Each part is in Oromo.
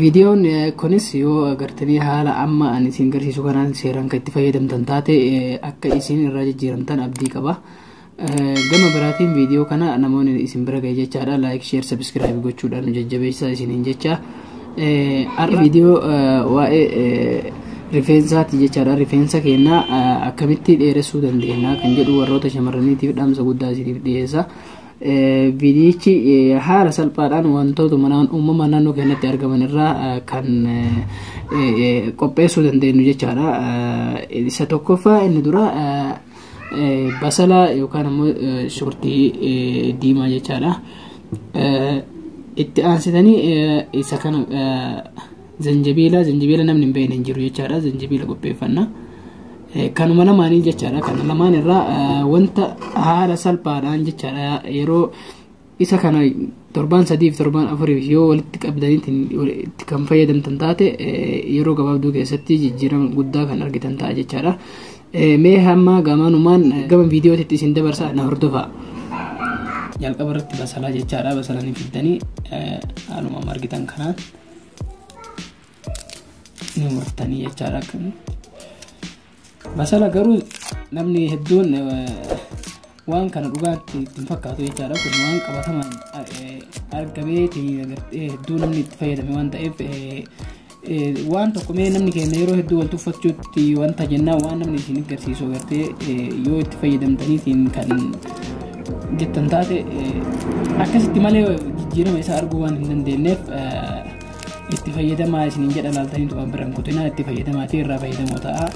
Viidiyoon kunis yoo agartanii haala amma ani isin garsiisu kanaan seeraan kan itti fayyadamtan taate akka isin irraa jijjiiramtan abdii qaba. Gama biraatiin viidiyoo kana namoonni isin bira ga'e jechaadha laayik sheer sabiskiraayib gochuudhaan nu jajjabeessaa isiniin jecha. Har'a viidiyoo waa'ee rifeensaati jechaadha rifeensa keenya akkamitti dheeressuu dandeenya kan jedhu warroota shamarraniitiif dhaamsa guddaa isiniif dhiyeessa. Viidiyichi haala salphaadhaan wantoota manaan uumamaa naannoo keenyatti argaman irraa kan qopheessuu dandeenyu jechaadha. Isa tokkoffaa inni dura basala yookaan immoo shurtii diimaa jechaadha. Itti aansitanii isa kana Zanjabiila zanjabiila namni hin beekne hin jiru jechaadha zanjabiila qopheeffanna. Kanuma lamaanii jechaadha kana lamaan irraa wanta haala salphaadhaan jechaadha yeroo isa kana torbaan sadiif torbaan afuriif yoo walitti qabdaniitiin itti kan fayyadamtan taate yeroo gabaabduu keessatti jijjiirama guddaa kan argitan ta'a jechaadha. Mee hamma gamaanumaan gama viidiyootitti isin dabarsa na hordofaa. Jalqaba irratti basalaa jechaadha basalanii fiddanii haaluma argitan kanaan. ni murtanii jechaadha akkami basala garuu namni hedduun eh, waan kana dhugaatti itti hin fakkaatu jechaadha kun waan qabatamaan eh, argameeti agartee hedduu namni itti fayyadame waan ta'eef eh, eh, waan tokko mee namni keenya yeroo hedduu wal tuffachuutti Itti wanta jennaan waan namni isin garsiisu agartee yoo itti fayyadamtaniitiin kan jettan taate akkasitti malee jijjiirama isaa arguu waan hin dandeenyeef itti fayyadamaa isiniin jedha laaltanii tuqaan biraan kutinaa itti fayyadamaa ta'e irraa fayyadamoo ta'a.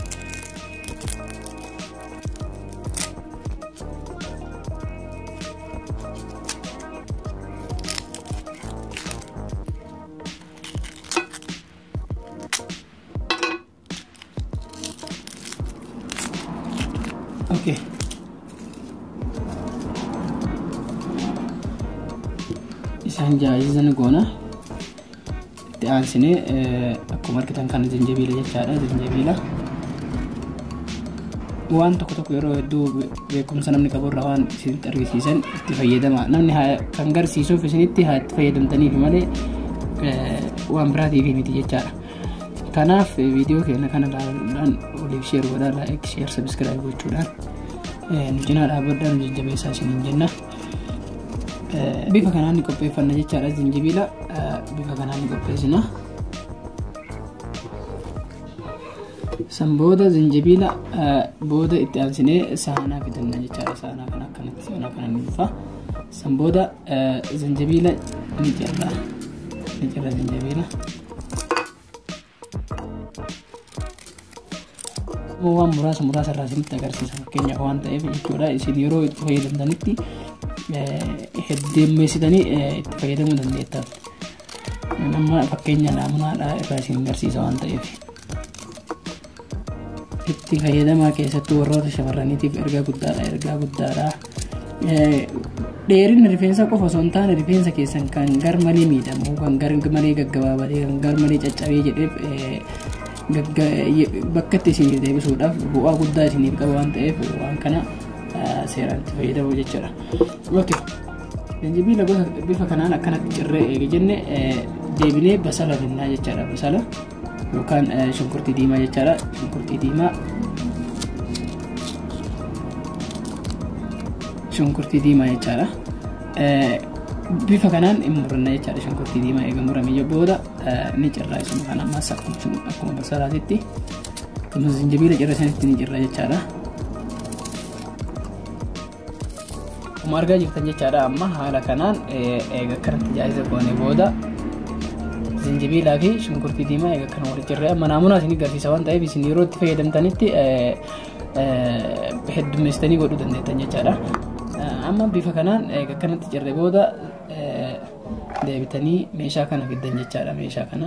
Okay. Isaan jaajiza ni goona. Itti aansinee akkuma argitan kana zanjabiila jechaadha zanjabiila. Waan tokko tokko yeroo hedduu beekumsa namni qabu irraa waan isinitti argisiisan itti fayyadama. Namni kan garsiisuuf isinitti haa itti fayyadamtaniif malee waan biraatiif miti jechaadha. Kanaaf viidiyoo keenya kana ilaaluudhaan waliif sheer godhaa laayik sheer sabiskiraayib gochuudhaan nu cinaa dhaabbadhaa nu jajjabeessaa isiniin jenna. Bifa kanaan ni qopheeffanna jechaadha zinjibiila bifa kanaan ni qopheessina. San booda zinjibiila booda itti aansinee saanaa fidanna jechaadha saanaa kana akkanatti saanaa kana ni dhufa. San booda zinjibiila ni cirra ni cirra zinjibiila. immoo waan muraasa muraasa irraa isinitti agarsiisa fakkeenyaaf waan ta'eef jechuudha isin yeroo itti fayyadamtanitti heddeemmeessitanii itti fayyadamuu dandeettan amma fakkeenya naamunaadha irraa isin agarsiisa waan ta'eef. itti fayyadamaa keessattuu warroota shamarraniitiif ergaa guddaadha ergaa guddaadha dheerinni rifeensa qofa osoo hin taane rifeensa keessan kan gar malee miidhamu kan gar malee gaggabaabatee kan gar malee caccabee jedheef bakka itti isiniif deebisuudhaaf bu'aa guddaa isiniif qaba waan ta'eef waan kana seeraan itti fayyadamu jechuudha. Okay. Jinjibiila gosa bifa kanaan akkanatti cirree eege jenne deebinee basala binnaa jechaadha basala. yookaan shunkurtii diimaa jechaadha shunkurtii diimaa shunkurtii diimaa jechaadha bifa kanaan hin muranna jechaadha shunkurtii diimaa eega muramee booda ni cirraa isuma kana amma saqqachuun akkuma basalaatitti akkasumas zinjabiila cirra isanitti ni cirra jechaadha. Akkuma argaa jirtan jechaadha amma haala kanaan eega akkanatti jaayisa goone booda zinjibiilaa fi shunkurtii diimaa eega akkana walitti jirree amma naamunaa isin garsiisa waan ta'eef isin yeroo itti fayyadamtanitti heddummeessitanii godhuu dandeettan jechaadha. Amma bifa kanaan eega akkanatti jirree booda deebitanii meeshaa kana fiddan jechaadha meeshaa kana.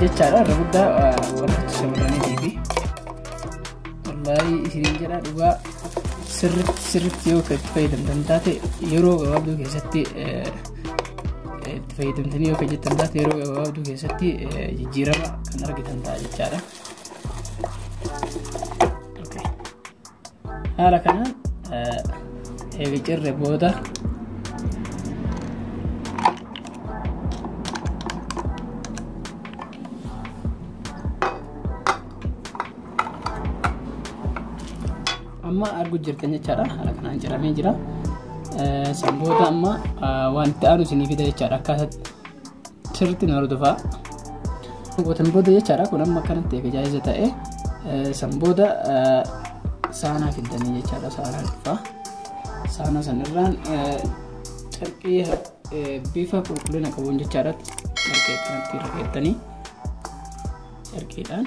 jechaadha irra guddaa warratti shamarraniitii fi wallaahi isiniin jedha dhugaa sirritti sirritti yoo itti fayyadamtan taate yeroo gabaabduu keessatti fayyadamtanii yoo hojjettan taate yeroo gabaabduu keessatti jijjiirama kan argitan ta'a jechaadha. Haala kanaan eega cirre booda Amma arguu jirtan jechaadha. Haala kanaan ciramee jira. San booda amma wanti aanu isinii fida jechaadha. Akkaataa sirriitti na hordofaa. Gootan booda jechaadha. Kun amma akkanatti eega jaa'iza ta'e. San booda saanaa fiddanii jechaadha. Saanaa dhufaa. Saanaa sanirraan carqii bifa qulqullina qabuun jechaadha. Carqii akkanatti irra keessanii carqiidhaan.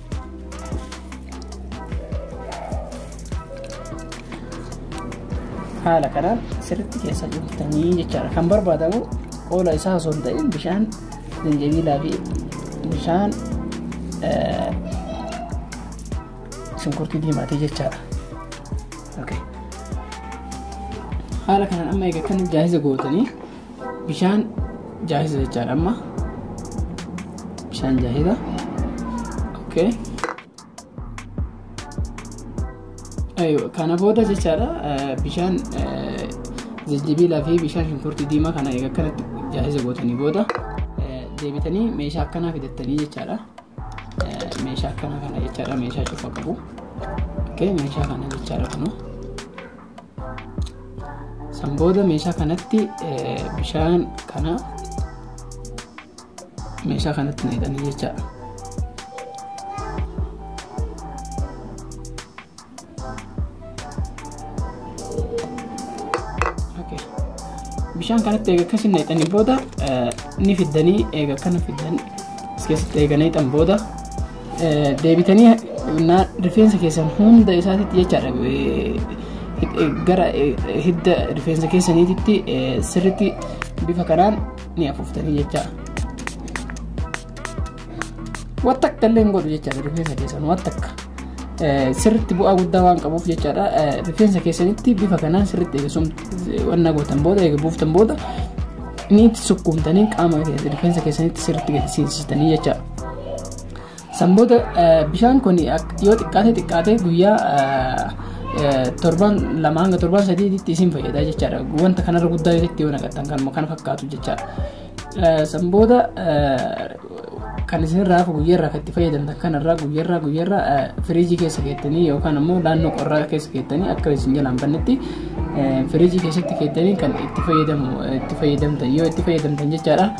haala kanaan sirriitti keessa jirtanii jechaadha kan barbaadamu qoola isaa osoo hin ta'in bishaan zanjabiilaa fi bishaan shunkurtii diimaatee jechaadha. Haala kanaan amma egaa kan jaahiza gootanii Bishaan jaahisa jechaadha amma. Bishaan jaahisa. Okay. Ayyo, kana booda jechaadha eh, bishaan eh, jijjibiilaa fi bishaan shunkurtii diimaa kana egaa akkanatti jaahisa gootanii booda eh, deebitanii meeshaa akkanaa fidattanii jechaadha. Eh, Meeshaa akkanaa kana jechaadha meeshaa cufa qabu. Okay, meeshaa kana jechaadha kunoo. San booda meeshaa kanatti bishaan kana meeshaa kanatti naqanii jechaadha. Bishaan kanatti eega akkasii naqanii booda ni fiddanii eega akkana fiddan as keessatti eega naqan booda deebitanii rifeensa keessan hunda isaatitti jechaadha gara hidda rifeensa keessaniititti sirritti bifa kanaan ni afuuftanii jecha waan takka illee hin godhu jechaadha rifeensa keessan waan takka sirritti bu'aa guddaa waan qabuuf jechaadha rifeensa keessanitti bifa kanaan sirritti eegasum wanna gootan booda eega buuftan booda ni itti sukkuumtanii qaama rifeensa keessanitti sirritti gadi seensistanii jechaadha. San booda bishaan kun yoo xiqqaate xiqqaate guyyaa torban lama hanga torban sadiitti isin fayyada jechaadha. Wanta kanarra guddaa irratti yoo naqatan kan kan fakkaatu jechaadha. San booda kan isinirraa hafu guyyaarraa kan itti fayyadamtan kanarraa guyyaarraa guyyaarraa firiijii keessa keessanii yookaan ammoo naannoo qorraa keessa keessanii akka isin jalaan bannetti firiijii keessatti keessanii kan itti fayyadamu itti fayyadamtan yoo itti fayyadamtan jechaadha.